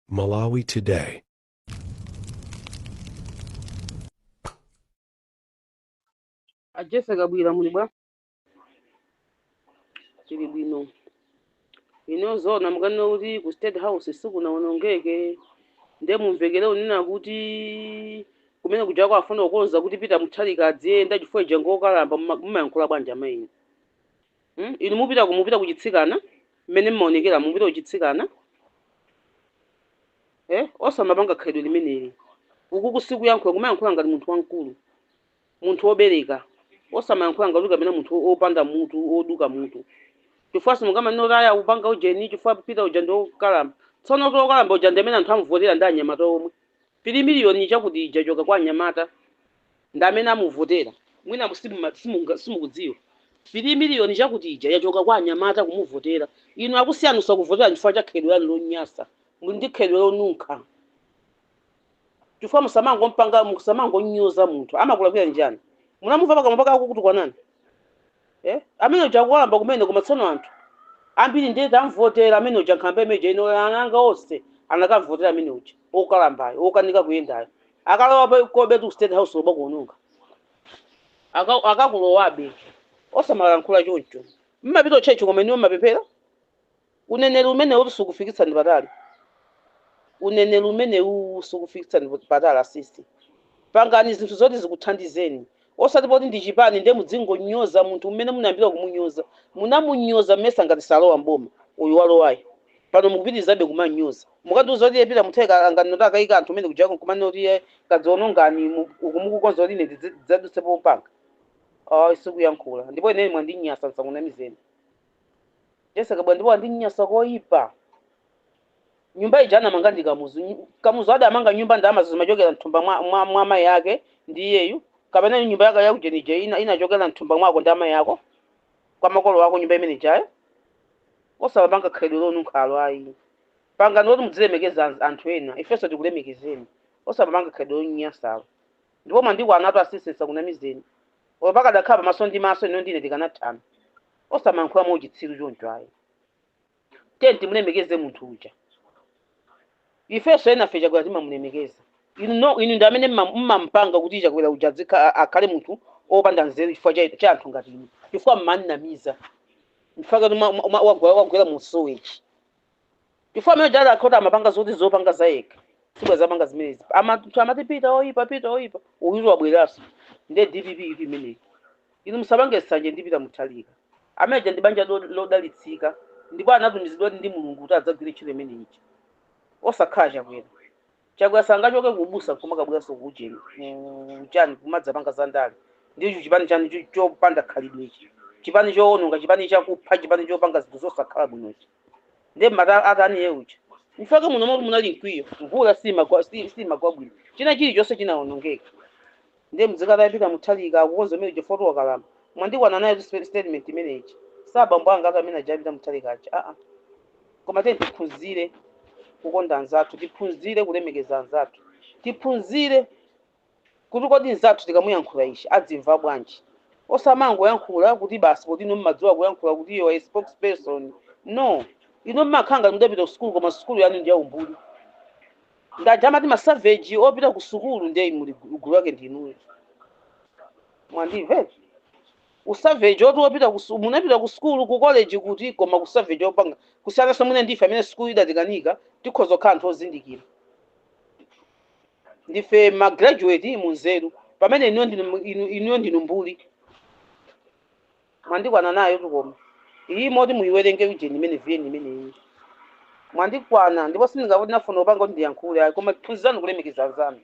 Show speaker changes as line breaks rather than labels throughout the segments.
Malawi
Today. a Jessie Kabwila muli bwa tili bwino inu zoona mukanene kuti ku state house sikunawonongeke nde mumvekere unena kuti kumene kuja akufuna kukonza kuti Peter Mutharika adziyenda chifukwa uja ngokalamba muma- mumayankhula bwanji amayi inu Hmm? Inu mupita ku mupita ku chitsikana mmene mmaonekera mupita ku chitsikana eh osamapanga khalidwe limeneli. Ukuku sikuyankhula kumayankhula ngati munthu wamkulu. Munthu wobereka osamayankhula ngati uli kapena munthu wo- wopanda mutu woduka mutu. Chifukwa simungamanene kuti ayi akupanga ujeni chifukwa Peter uja ndi wokalamba. Tsono kuti wokalamba uja ndi amene anthu amuvotera ndi anyamata omwe. 3 miliyoni chakuti ija yachoka kwa anyamata ndi amene amuvotera. Mwina simuma, simunga, simukudziwa. 3 miliyoni chakuti ija yachoka kwa anyamata kumuvotera. Inu akusiyani osakuvoterani chifukwa cha khalidwe lanu lonyasa. Muli ndi khalidwe lonunkha. Chifukwa musamangompanga musamangonyoza munthu. Amakulakwirani chani? Munamumva pakamwa pake akukutukwanani? eh amene uja akukalamba kumene koma tsono anthu ambiri ndiye tamvotera amene uja nkhalamba imene ija ine ana anga onse anakamvotera amene uja okalambayo okanika kuyendayo akalowakobetu state house loba kuononga Aka- akakulowabe osamalankhula choncho mmapita kutchetchi koma inuyo mmapemphera Uneneri umenewutu sukufikitsani patali. Uneneri umenewuwu sukufikitsani patali asisi. Pangani zinthu zoti zikuthandizeni. Osati poti ndi chipani ndiye mudzingonyoza munthu mmene munayambira kumunyoza. Munamunyoza mmesa ngati salowa m'boma uyu walowayu. Pano mukupitirizabe kumamnyoza. Mukandiuza kuti iye Peter Mutharika anganene kuti akayika anthu kumene kujako nkumanena kuti iye kadzionongani mu- uku mukukonza kuti ine ndidze- ndidzadutsepo kupanga. Ayi sikuyankhula. Ndipo ineyo mwandinyasa ndisakunamizeni. Jessie Kabwila ndipo wandinyasa koyipa nyumba ija anamanga ndi kamuzu Nyu- kamuzu adamanga nyumba ndalama zimachokera mthumba mwa, mwa, mwa mayi ake ndi iyeyu kapena nyumba yake yakuujeni ija inachokera mthumba mwako ndi amayi ako kwa makolo ako nyumba imene ijayo osapanga khalidwe lonunkhalo ayi pangani loti mudzilemekeza anz- anthu ena ifenso tikulemekezeni osapanga khalidwe lonyasalo ndipo mwandikwanatu asisi nsakunamizeni oyo pakadakhala pamaso ndi maso inu ndi ine tikanathana Osamayankhula mwa uchitsiru choncho ayi. Tiyeni timulemekeze munthu uja. Ifenso enafe Chakwera timamulemekeza. Inu no, inu ndi amene mma- mmampanga kuti Chakwera uja adzikha- a- akhale munthu opanda nzeru chifukwa cha cha anthu ngati inu. Chifukwa mmamunamiza. Mpaka wagwera wagwera mu sewage. chifukwa amene uja adakhota amapanga zoti zopanga za yekha sibwenzi akupanga zimenezi Ama- anthu amati pita oyipa pita oyipa uyutu wabweranso ndiye dpp itu imeneyi inu musapange sanje ndi pita muthalika amene uja ndi banja lo- lodalitsika ndipo anatumizidwa ndi mulungu kuti adzagwire ntchito imeneyi osakhala chakwera chakwera sangachoke ku ubusa nkumakabweranso ku ujeni ku chani kumadzapanga za ndale ndicho chipani chanji cho- chopanda khalidwe ichi chipani choononga chipani chakupha chipani chopanga zinthu zosakhala bwino ichi ndiye mata atani iye uja chifukwa chake muno moti munali mkwiyo mvula simagwa si- simagwa bwino china chilichonse chinaonongeka Ndiye mdzikatayo Peter Muthalika akukonza ameneyo chifukwa choti wakalamba. Mwandikwana nayotu spe statement imeneyi. Si abambo angatu amene aja a Peter Muthalika aja aa. Koma tiyeni tiphunzire kukonda anzathu, tiphunzire kulemekeza anzathu, tiphunzire kuti kodi mnzathu tikamuyankhula ichi adzimva bwanji. Osamangoyankhula kuti basi poti inu mmadziwa kuyankhula kuti you are a spokesperson. No. Inu mmakhala ngati mudapita kusukulu koma sukulu yanu ndi ya umbuli. ndi aja amati masaveji opita ku sukulu ndiye muli gu- gulu lake ndinuyo mwandimve usaveji oti opita ku su- munapita ku sukulu ku college kuti koma usaveji opanga kusiyananso mwina ndife amene sukulu idatikanika tikhoza kukhala anthu ozindikira ndife magraduate munzeru pamene inuyo ndinu inu- inuyo ndinu mbuli Mwandikwana nayotu koma iyi moti muyiwerenge ujeni imene viyeni imeneyi mwandikwana ndipo sindinafuna kupanga kuti ndiyankhule ayi koma phunzirani kulemekeza anzanu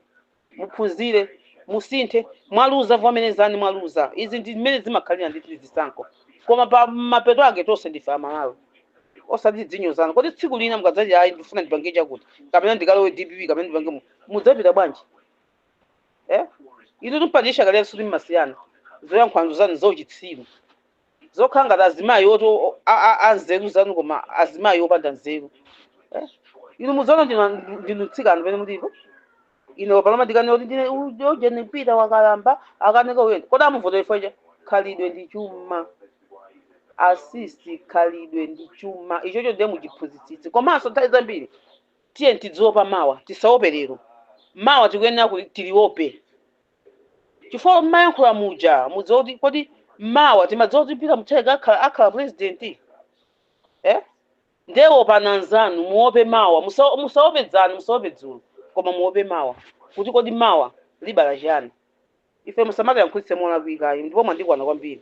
muphunzire musinthe mwaluza vomerezani mwaluza izi ndi mmene zimakhalira ndithu ndi zisankho koma pa mapeto ake tonse ndife amalawi osati tidzinyozana kodi tsiku lina mukadzati ayi ndifuna ndipange chakuti kapena ndikalowe dpp kapena ndipange mu- mudzapita bwanji eh? inu timpanikiza kale so kuti mumasiya zoyankhula zanu zauchitsiru zokhala ngati azimayi oti o- a- a- anzeru zanu koma azimayi opanda nzeru eh? inu muzaona ndinu- ndinu mtsikana pene mulipo ine paloma ndikane kuti ndine ujeni mpita wakalamba akanika uyenda kodi amuvotera chifukwa cha khalidwe ndi chuma asisti khalidwe ndi chuma ichocho ndiye muchimvetsetse komanso nthawi zambiri Tiyeni tidziopa mawa, tisaope lero. Mawa tikuyenera kuti, tiliope. Chifukwa mmayankhula muja mudziwa kuti kodi mawa timadziwa kuti Peter Mutharika akhala, akhala president? Eh? Ndiye opani anzanu, muope mawa. Musa, musaope dzana, musaope dzulo. Koma muope mawa. Kuti kodi mawa libala chiyani? Ife musamatiyankhulitse molakwika ayi, ndipo mwandikwana kwambiri.